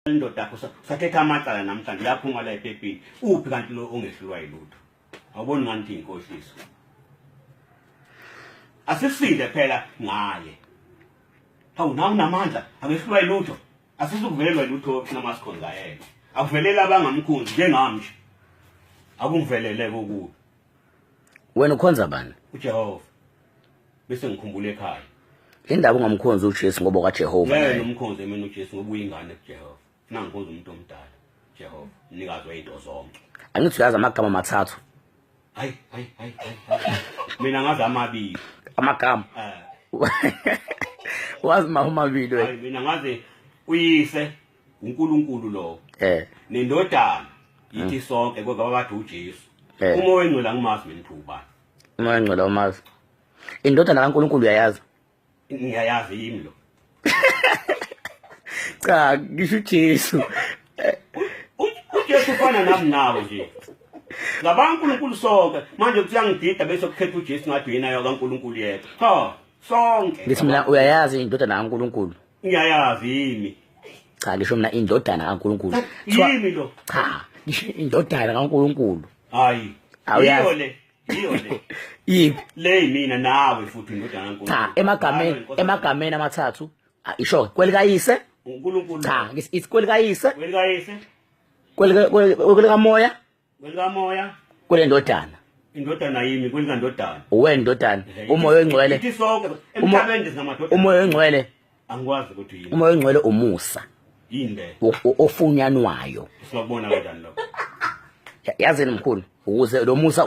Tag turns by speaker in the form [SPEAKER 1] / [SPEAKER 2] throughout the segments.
[SPEAKER 1] indoda yakho usathetha amacala namhlanje uyaphuma la epepini uphi kanti lo ongehlulwa yilutho awuboni ngani ukuthi yinkohliso asisinde phela ngaye hawu nawe unamandla akehlulwa yilutho asisukuvelelwa yilutho sinamasikhonza yena akuvelele abangamkhonzi njengami nje akungivelele kokubi
[SPEAKER 2] wena ukhonza bani ujehova
[SPEAKER 1] bese ngikhumbula ekhaya indaba ungamkhonzi
[SPEAKER 2] ujesu ngoba kwajehova yena umkhonzi emini
[SPEAKER 1] ujesu ngoba uyingane kujehova funa ngikhonza umuntu omdala jehova mnikazi weyinto zonke angithi uyazi amagama
[SPEAKER 2] amathathu hayi hayi
[SPEAKER 1] hayi mina ngazi amabili amagama
[SPEAKER 2] eh. wazi mahomabili wena mina ngazi
[SPEAKER 1] uyise uNkulunkulu lowo eh nendodana yithi mm. sonke kodwa babathi uJesu eh. uma wengcwela ngimazi mina ubani uma wengcwela
[SPEAKER 2] umazi indodana kaNkulunkulu uyayazi ngiyayazi
[SPEAKER 1] yimi lo
[SPEAKER 2] cha ngisho uJesu uJesu
[SPEAKER 1] ufana nami nawe nje ngabanga uNkulunkulu sonke manje kuyangidida bese kukhetha uJesu ngathi yena yakaNkulunkulu yedwa cha sonke ngithi mina uyayazi
[SPEAKER 2] indodana kaNkulunkulu ngiyayazi
[SPEAKER 1] yini cha lisho mina
[SPEAKER 2] indodana kaNkuluNkulu yini lo
[SPEAKER 1] cha lisho
[SPEAKER 2] indodana kaNkuluNkulu hayi iyo
[SPEAKER 1] le iyo le yiphi
[SPEAKER 2] le mina
[SPEAKER 1] nawe futhi indodana kaNkuluNkulu cha emagameni emagameni
[SPEAKER 2] amathathu isho kwelikayise uNkulunkulu
[SPEAKER 1] cha isikweli
[SPEAKER 2] kayise kweli kayise
[SPEAKER 1] kweli kweli kamoya Kwelikamoya. Kule
[SPEAKER 2] ndodana. indodana yimi
[SPEAKER 1] kwelika ndodana uwe ndodana
[SPEAKER 2] umoya ongcwele ithi sonke
[SPEAKER 1] emhlabeni sinamadodana umoya ongcwele
[SPEAKER 2] angikwazi ukuthi
[SPEAKER 1] yini umoya ongcwele umusa
[SPEAKER 2] yinde
[SPEAKER 1] ofunyanwayo
[SPEAKER 2] siyabona kanjani
[SPEAKER 1] lokho yazini
[SPEAKER 2] mkhulu ukuze lo musa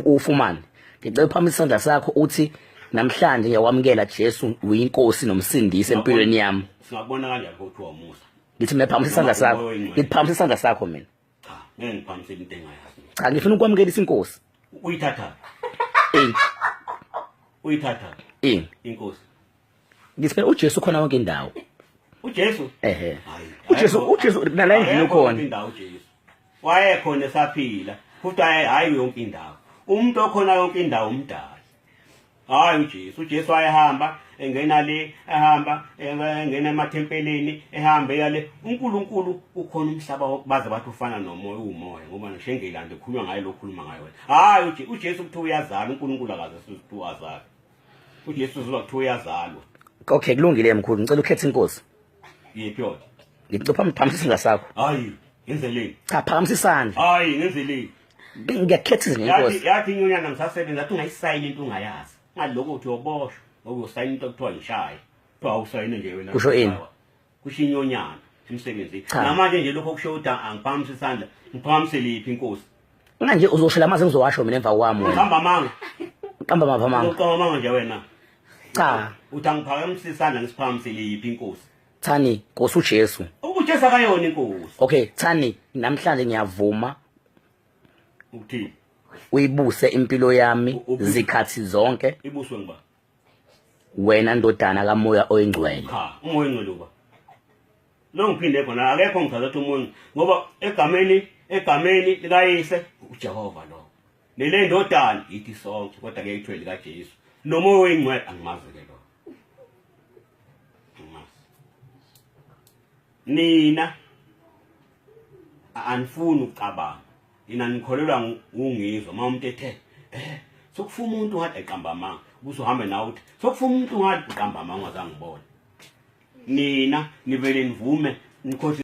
[SPEAKER 2] ufumane ngicela phambi isandla sakho uthi namhlanje ngiyawamukela Jesu uyinkosi nomsindisi empilweni yami singabona kanjani ukuthi
[SPEAKER 1] wamusa ngithi mina phambi isandla
[SPEAKER 2] sakho ngithi phambi isandla sakho mina cha ngeke
[SPEAKER 1] ngiphambisele into engayazi cha ngifuna ukwamukelisa
[SPEAKER 2] inkosi uyithatha
[SPEAKER 1] eh uyithatha eh inkosi
[SPEAKER 2] ngisiphe uJesu khona wonke indawo uJesu
[SPEAKER 1] ehe
[SPEAKER 2] uJesu uJesu nala endlini khona indawo uJesu
[SPEAKER 1] wayekhona esaphila futhi hayi yonke indawo umuntu okhona yonke indawo umdala hayi uJesu uJesu ayehamba engena le ehamba engena emathempelini ehamba eyale uNkulunkulu ukhona umhlaba baze bathi ufana nomoya uwumoya ngoba ngisho engilande khuluma ngayo lokhuluma ngayo wena hayi uJesu kuthiwa uyazala uNkulunkulu akaze sizithi azala uJesu uzoba kuthiwa uyazalwa okay kulungile
[SPEAKER 2] mkhulu ngicela ukhethe inkosi yiphi yona
[SPEAKER 1] ngicela uphamisa
[SPEAKER 2] isandla sakho hayi ngenzeleni
[SPEAKER 1] cha phakamisa isandla
[SPEAKER 2] hayi ngenzeleni
[SPEAKER 1] ngiyakhetha
[SPEAKER 2] izinto inkosi yathi inyonyana ngisasebenza
[SPEAKER 1] athi ungayisayini into ungayazi ngaloko uthi uyoboshwa okuyosayina into kuthiwa yishaya kuthiwa awusayine nje wena kusho ini
[SPEAKER 2] kusho inyonyana
[SPEAKER 1] emsebenzini namanje nje lokho kusho ukuthi angiphakamisa isandla ngiphakamisa liphi inkosi mina nje uzoshela
[SPEAKER 2] amazi ngizowasho mina emva kwami uhamba amanga
[SPEAKER 1] qamba mava
[SPEAKER 2] amanga uqamba amanga nje wena
[SPEAKER 1] cha
[SPEAKER 2] uthi angiphakamisa
[SPEAKER 1] isandla ngisiphakamisele yiphi inkosi Thani Nkosi
[SPEAKER 2] uJesu. UJesu akayona
[SPEAKER 1] inkosi. Okay, Thani
[SPEAKER 2] namhlanje ngiyavuma
[SPEAKER 1] ukuthini? Uyibuse
[SPEAKER 2] impilo yami zikhathi zonke. Ibuswe ngiba. Wena ndodana kamoya oyingcwele. Cha, umoya oyingcwele
[SPEAKER 1] uba. Lo ngiphinde khona akekho ngithatha ukuthi umuntu ngoba egameni egameni likayise uJehova lo. Lele ndodana yithi sonke kodwa ke ithwele kaJesu. Nomoya oyingcwele angimazi ke lo. nina anifuni ukucabanga nina nikholelwa ngungizwa uma umuntu ethe eh sokufa umuntu ngathi eqamba amanga kuze uhambe nawe uthi sokufa umuntu ngathi uqamba amanga ungazangibona nina nivele nivume nikhohle